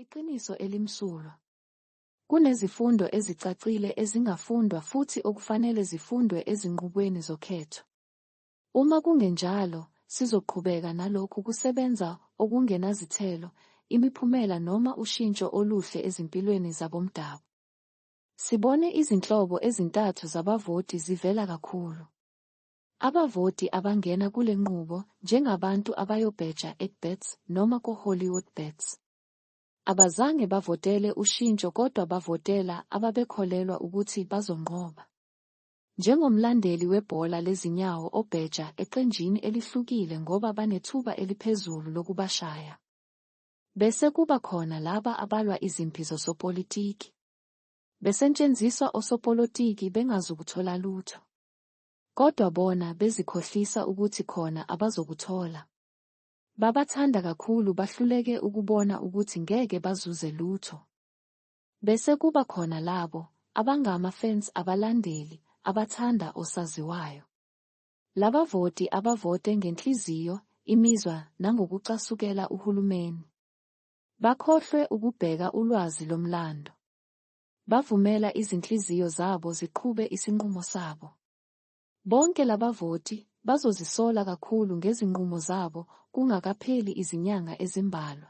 Iqiniso elimsulwa. Kunezifundo ezicacile ezingafundwa futhi okufanele zifundwe ezinqubweni zokhetho. Uma kungenjalo, sizoqhubeka nalokhu kusebenza okungenazithelo, imiphumela noma ushintsho oluhle ezimpilweni zabomdabu. Sibone izinhlobo ezintathu zabavoti zivela kakhulu. Abavoti abangena kule nqubo njengabantu abayobheja eKBets noma koHollywoodbets. Abazange bavotele ushintsho kodwa bavotela ababekholelwa ukuthi bazonqoba. Njengomlandeli webhola lezinyawo obheja eqenjini elihlukile ngoba banethuba eliphezulu lokubashaya. Bese kuba khona laba abalwa izimpi zosopolitiki. Besentshenziswa osopolotiki bengazukuthola lutho. Kodwa bona bezikhohlisa ukuthi khona abazokuthola. Babathanda kakhulu bahluleke ukubona ukuthi ngeke bazuze lutho. Bese kuba khona labo abangama fans abalandeli abathanda osaziwayo. Labavoti abavote ngenhliziyo, imizwa nangokucasukela uhulumeni. Bakhohlwe ukubheka ulwazi lomlando. Bavumela izinhliziyo zabo ziqhube isinqumo sabo. Bonke labavoti bazozisola kakhulu ngezinqumo zabo kungakapheli izinyanga ezimbalwa.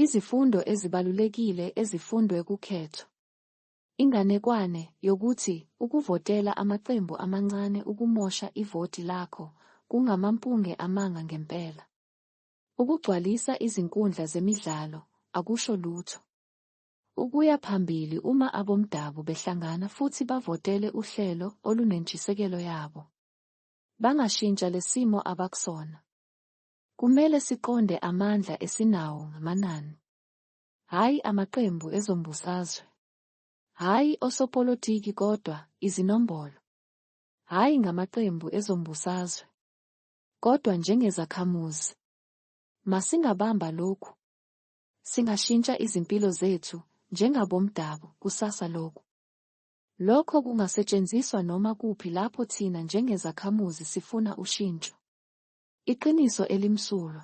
Izifundo ezibalulekile ezifundwe kukhetho. Inganekwane yokuthi ukuvotela amaqembu amancane ukumosha ivoti lakho kungamampunge amanga ngempela. Ukugcwalisa izinkundla zemidlalo akusho lutho. Ukuya phambili uma abomdabu behlangana futhi bavotele uhlelo olunentshisekelo yabo. Bangashintsha lesimo abakusona. Kumele siqonde amandla esinawo ngamanani. Hhayi amaqembu ezombusazwe. Hhayi osopolitiki kodwa izinombolo. Hhayi ngamaqembu ezombusazwe. Kodwa njengezakhamuzi. Masingabamba lokhu. Singashintsha izimpilo zethu njengabomdabu kusasa lokhu. Lokho kungasetshenziswa noma kuphi lapho thina njengezakhamuzi sifuna ushintsho. Iqiniso elimsulwa.